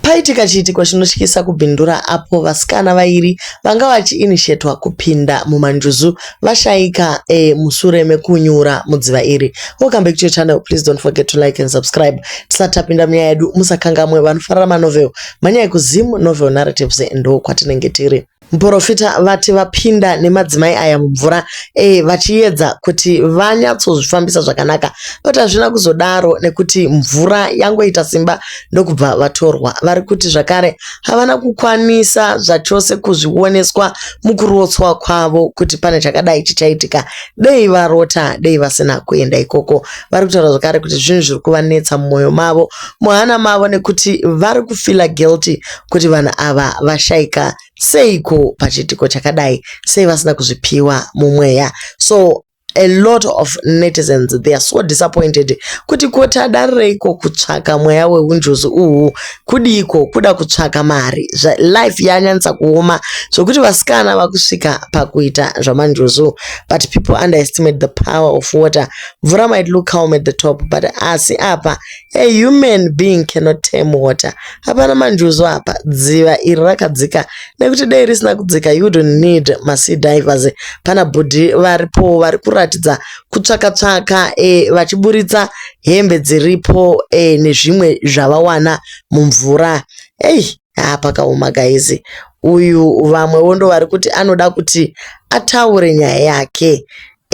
Paitika chiitiko chinotyisa kuBindura apo vasikana vairi vanga vachiinishetwa kupinda mumanjuzu vashaika e, musure mekunyura mudziva iri. Welcome back to your channel, please don't forget to like and subscribe. Tisati tapinda munyaya yedu musakangamwe vanofarira manovel manyaya kuZim Novel Narratives ndokwatinenge tiri. Muporofita vati vapinda nemadzimai aya mumvura e, vachiyedza kuti vanyatsozvifambisa zvakanaka but hazvina kuzodaro nekuti mvura yangoita simba ndokubva vatorwa. Vari kuti zvakare havana kukwanisa zvachose kuzvioneswa mukurotswa kwavo kuti pane chakadai chichaitika, dei varota, dei vasina kuenda ikoko. Vari kutaura zvakare kuti zvinhu zviri kuvanetsa mumwoyo mavo, muhana mavo nekuti vari kufila guilty kuti vanhu ava vashaika seiko pachiitiko chakadai sei vasina kuzvipiwa mumweya so a lot of netizens they are so disappointed kuti koti adarireiko kutsvaka mweya weunjuzi uhu kudiiko kuda kutsvaka mari life yanyanyisa kuoma zvokuti vasikana vakusvika pakuita zvamanjuzu but people underestimate the power of water mvura might look calm at the top but asi apa A human being cannot tame water. Hapana manjuzu apa. Dziva iri rakadzika. Nekuti dei risina kudzika you wouldn't need masea divers. Pana bhudhi varipo vari kuratidza kutsvaka tsvaka e, vachiburitsa hembe dziripo e, nezvimwe zvavawana mumvura. Ei. haa pakaoma guys uyu vamwewo ndovari kuti anoda kuti ataure nyaya yake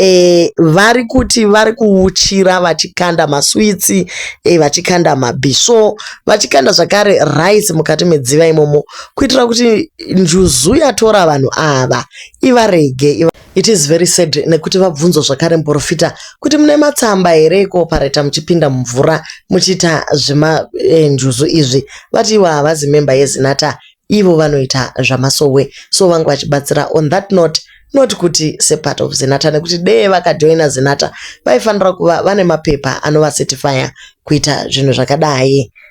e, vari kuti vari kuuchira vachikanda maswitsi e, vachikanda mabhisvo vachikanda zvakare rice mukati medziva imomo kuitira kuti njuzu yatora vanhu ava ivarege iva... It is very sad nekuti vabvunzwa zvakare muporofita kuti mune matsamba here ekuopareta muchipinda mumvura muchiita zvemanjuzu eh, izvi vati ivo havazi memba yezinata ivo vanoita zvamasowe so vange vachibatsira on that note not kuti separt of zinata nekuti dee vakajoina zinata vaifanira kuva vane mapepa anovacertifya kuita zvinhu zvakadai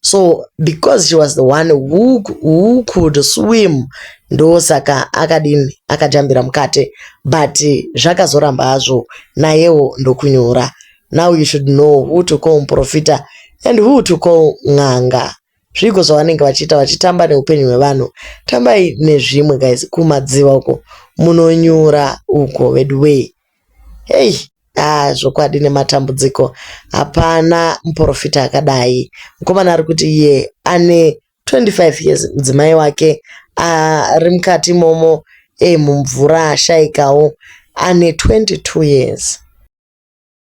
so because she was the one who, who could swim ndosaka akadini akajambira mukate but zvakazoramba hazvo nayewo ndokunyura now you should know who to call muprofita and who to call n'anga zviiko zvavanenge vachiita vachitamba neupenyu hwevanhu tambai nezvimwe guys kumadziva uko munonyura uko veduwee Hey haa zvokwadi nematambudziko hapana muporofita akadai. Mukomana ari kuti iye ane 25 years mudzimai wake ari mukati imomo hey mumvura ashaikawo ane 22 years.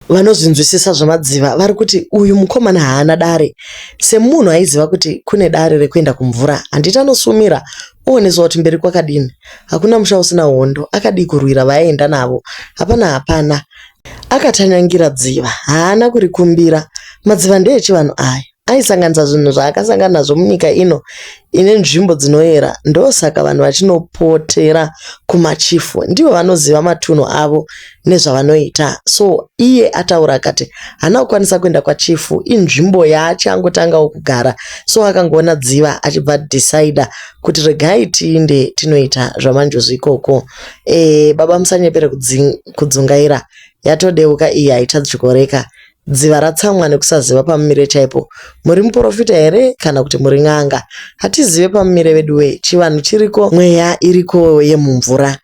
Vanozvinzwisisa zvemadziva vari kuti uyu mukomana haana dare semunhu aiziva kuti kune dare rekuenda kumvura handiti anosumira oonesa kuti mberi kwakadini hakuna musha usina hondo akadii kurwira vaaenda navo hapana hapana akatanyangira dziva haana kurikumbira madziva ndeechivanhu aya aisanganisa zvinhu zvaakasangana nazvo munyika ino ine nzvimbo dzinoyera ndosaka vanhu vachinopotera kumachifu ndivo vanoziva matunhu avo nezvavanoita so iye ataura akati hana kukwanisa kuenda kwachifu inzvimbo yaachi angotangawo kugara so akangoona dziva achibva decide kuti regai tiinde tinoita zvamanjuzu ikoko e, baba musanyepere kudzungaira yatodeuka iyi haitadyikoreka Dziva ratsamwa nekusaziva pamumire chaipo. Muri muporofita here kana kuti muri n'anga? Hatizive pamumire veduwee, chivanhu chiriko mweya iriko yemumvura.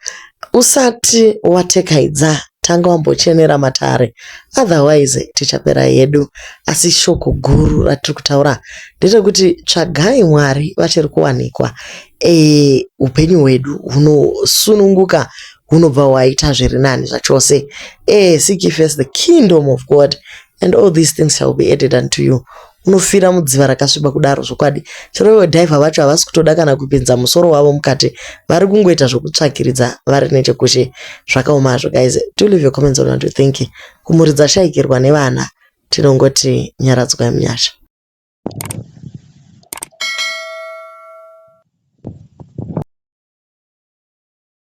Usati watekaidza tanga wambochenera matare otherwise tichapera hedu. Asi shoko guru ratiri kutaura nderekuti tsvagai Mwari vachiri kuwanikwa. Eeh upenyu hwedu hunosununguka hunobva hwaita zviri nani zvachose eh seek ye first the kingdom of god and all these things shall be added unto you unofira mudziva rakasviba kudaro zvokwadi chero ivo dhaiva vacho havasi kutoda kana kupinza musoro wavo mukati vari kungoita zvokutsvakiridza vari nechekushe zvakaoma hazvo guys do leave your comments on what you think kumhuri dzashaikirwa nevana tinongoti nyaradzwai munyasha